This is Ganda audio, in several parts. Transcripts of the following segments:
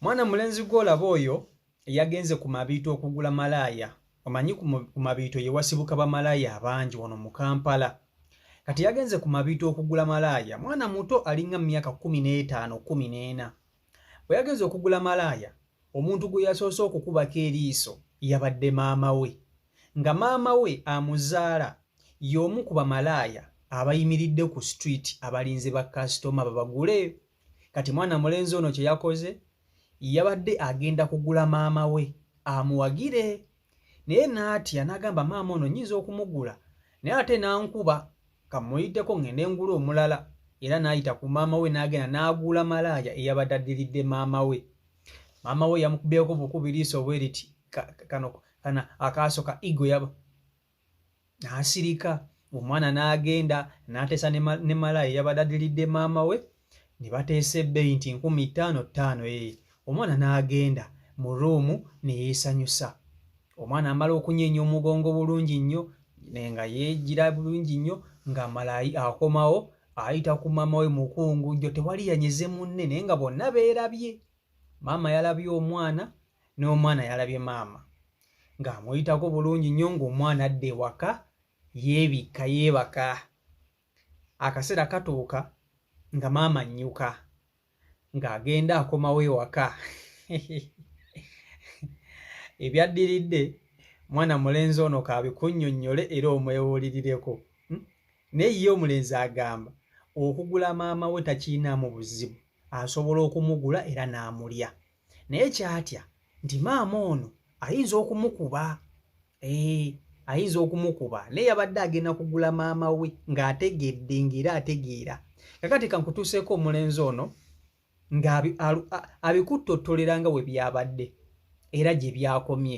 mwana mulenzi gwolaba oyo eyagenze ku mabiito okugula malaaya omanyi ku mabiito yewasibuka bamalaaya abangi wano mu kampala kati yagenze ku mabiito okugula malaaya mwana muto alinga mumyaka kumi n'etaano kumi n'ena bwe yagenze okugula malaaya omuntu gwe yasoose okukubako eriiso yabadde maama we nga maama we amuzaala y'omu ku bamalaaya abayimiridde ku street abalinze ba kasitoma babagule kati mwana mulenzi ono kye yakoze yabadde agenda kugula maama we amuwagire naye n'atya n'agamba maama ono nyinza okumugula naye ate n'ankuba kamuyiteko ngende ngula omulala era n'ayita ku maama we n'agenda n'agula malaaya eyabadde addiridde maama we maama we yamukubyeko bukubi liiso bwe liti kano kana akaaso ka igo yaba n'asirika omwana n'agenda n'ateesa ne malaya eyabadde adiridde maama we ne bateesa ebbeeyi nti nkumi ttaano ttaano ee eh. omwana n'agenda mu ruumu ne yeesanyusa omwana amala okunyeenya omugongo bulungi nnyo nga yeegira bulungi nnyo nga malayi akomawo ayita ku maama we mukungu jjo tewali yanyeze munne naye nga bonna beerabye maama yalabye omwana n'omwana yalabye maama ng'amuyitako bulungi nnyo ng'omwana adda ewaka yeebikka yeebaka akaseera katuuka nga maama nnyuka ng'agenda akomawo ewaka ebyaddiridde mwana mulenzi ono kaabikunnyonnyole era omwewulirireko hmm? naye ye omulenzi agamba okugula maama we takiinaamu buzibu asobola okumugula era n'amulya naye kyatya nti maama ono ayinza okumukuba ee eh, ayinza okumukuba naye yabadde agenda kugula maama we ng'ategedde ng'era ategeera kakati kankutuuseeko omulenzi ono ng'abikuttottolera nga we byabadde era gye byakomye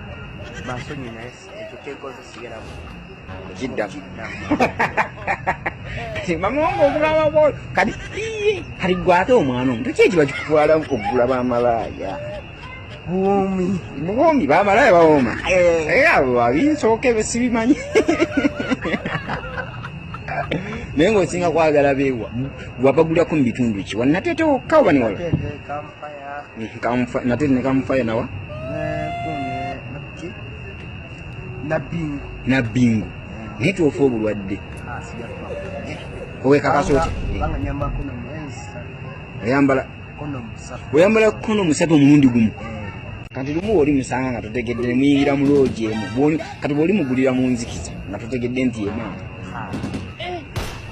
Basonyi naye ekyo kyekoze sigeramu. Kidda. Mamongo okulaba bwo kati iye kati gwate omwana omuto kyeki bakikutwala okugula bamalaaya. Buwomi. Buwomi bamalaaya bawoma. Eh. eh abo babinsooka ebyo sibimanyi. naye ng'osinga kwagala beewa wabagulako mu bitundu ki wanateete wokka oba newala nate nekamufaya nawa nabbingu naye twofa obulwadde ah, owekakasa oyambala oyambala kono musatu omulundi gumu eh. kati lumu oli musanga nga totegedde nemuyingira mu loogi emu kati bwoli mugulira mu nzikiza nga totegedde nti emu ah.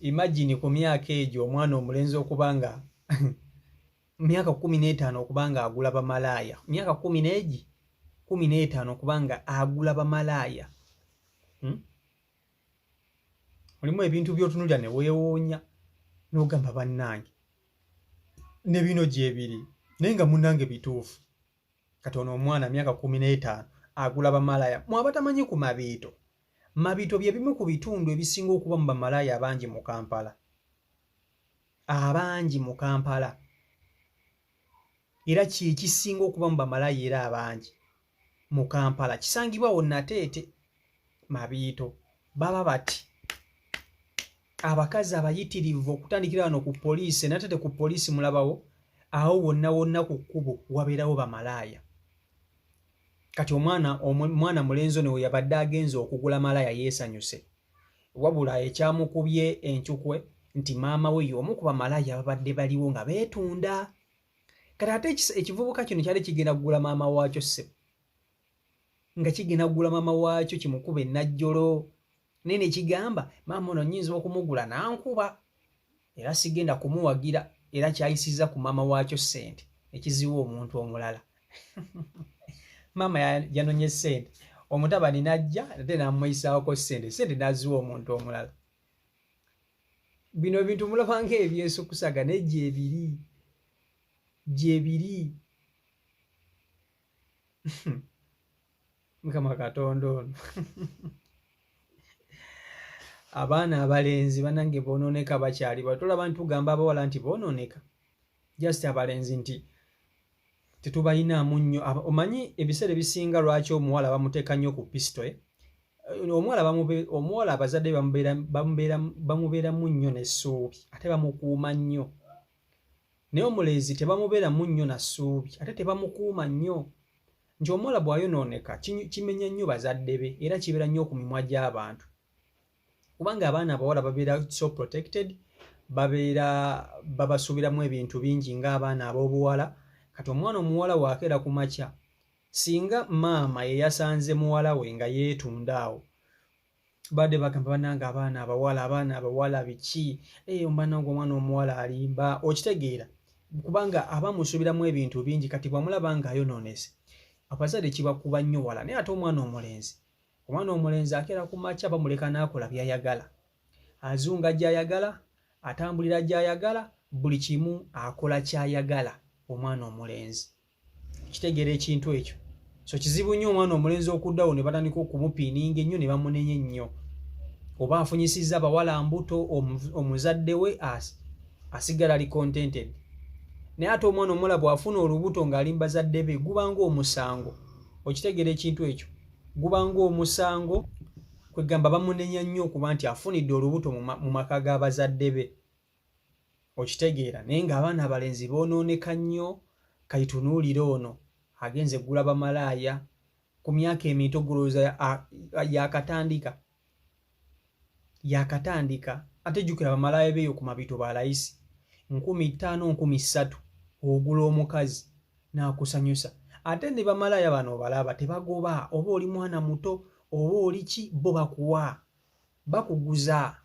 imagine ku myaka egyo omwana omulenzi okuba nga myaka kumi n'etaano okuba nga agula bamalaaya myaka kumi n'egi kumi n'etaano okuba nga agula bamalaaya hmm? olimu ebintu byotunulira ne weewuunya n'ogamba bannange ne bino gyebiri naye nga munange bituufu kati ono omwana myaka kumi n'etaano agula bamalaya mwabatamanyi ku mabiito mabiito bye bimu ku bitundu ebisinga okuba mu bamalaya abangi mu kampala abangi mu kampala era kyekisinga okuba mu bamalaya era abangi mu kampala kisangibwawo nateete mabiito baba bati abakazi abayitirivu okutandikira wano ku poliisi natate ku poliisi mulabawo awo wonna wonna ku kkubo wabeerawo bamalaaya kati omwana omwana mulenzi ono weyabadde agenza okugula malaaya yeesanyuse wabula ekyamukubye encukwe nti maama we y'omu ku bamalaaya ababadde baliwo nga beetunda kati ate ekivubuka kino kyali kigenda kugula maama waakyo ssebo nga kigenda kugula maama waakyo kimukuba enajjolo naye nekigamba maama ono nyinza okumugula nankuba era sigenda kumuwagira era kyayisiza ku maama waakyo sente ekiziwa omuntu omulala maama yanonye sente omutabani najja ate namuyisaako sente sente naziwa omuntu omulala bino bintu mulaba nga ebyesukusaga naye gyebiri gyebiri mukama katonda ono abaana abalenzi banange bononeka bakyali batolaba ntugamba abawala nti bononeka just abalenzi nti tetubayinaamu nnyo omanyi ebiseera ebisinga lwaki omuwala bamuteeka nnyo ku pisito eh? omuwala omuwala abazadde bamubeeramu nnyo n'essuubi ate bamukuuma nnyo naye omulenzi tebamubeera mu nnyo na ssuubi ate tebamukuuma nnyo nti omuwala bw'ayonooneka kimenya nnyo bazadde be era kibeera nnyo ku mimwa gy'abantu kubanga abaana abawala babeera so protected babeera babasuubiramu ebintu bingi ng'abaana ab'obuwala kati omwana omuwala waakeera ku makya singa maama ye yasanze muwala we nga yeetunda awo bade bagamba banange abaana abawala abaana abawala biki eh, omwana ngo omwana omuwala alimba okitegeera kubanga aba musubiramu ebintu bingi kati bwamulaba nga ayononese abazadde kibakuba nnyo wala naye ate omwana omulenzi omwana omulenzi akeera ku makya bamuleka n'akola byayagala azunga gyayagala atambulira gyayagala buli kimu akola kyayagala omwana omulenzi kitegeera ekintu ekyo so kizibu nnyo omwana omulenzi okuddawo ne batandika okumupiininga ennyo ne bamunenya ennyo oba afunyisizza abawala mbuto omuzadde we asigala ali contented naye ate omwana omuwala bw'afuna olubuto ng'ali mu bazadde be gubanga omusango okitegeera ekintu ekyo gubanga omusango kwegamba bamunenya nnyo okuba nti afunidde olubuto mu maka g'abazadde be okitegeera naye ng'abaana abalenzi boonooneka nnyo kaitunuulire ono agenze gula bamalaaya ku myaka emito gulowooza yakatandika yakatandika ate jjukira bamalaaya beeyo ku mabito ba layisi nkumi ttaano nkumi ssatu ogula omukazi n'akusanyusa ate ne bamalaaya bano obalaba tebagoba oba oli mwana muto oba oli ki bo bakuwa bakuguza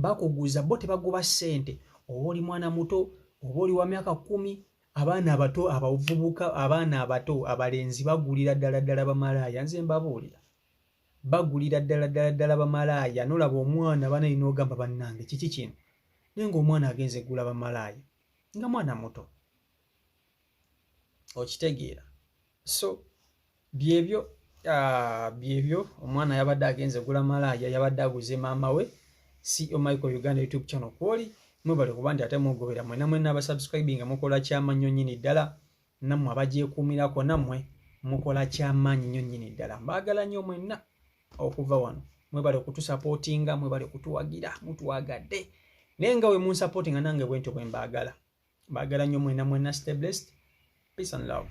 bakuguza bo tebagoba ssente oba oli mwana muto oba oli wa myaka kumi abaana abato abavubuka abaana abato abalenzi bagulira ddala ddala bamalaaya nze mbabuulira bagulira ddala ddala ddala bamalaaya nolaba omwana banayina ogamba bannange kiki kino naye ngaomwana agenze gula bamalaaya nga mwana muto okitegeera so byebyo ah, byebyo omwana yabadde agenze gula malaaya yabadde aguze maama we ceo michael uganda youtube channel kwoli mwebale kuba nti ate mugobera mwena mwena abasubscribing nga mukola kyamanyo nyini ddala nammwe abagyekuumirako nammwe mukola kyamaanyi nyo nyini ddala mbaagala nyo mwenna okuva wano mwebale kutusapootinga mwebale kutuwagira mutwagadde naye nga we munsapooti nga nange bwentyo bwe mbaagala bagala nnyo mwena mwena stay blessed peace and love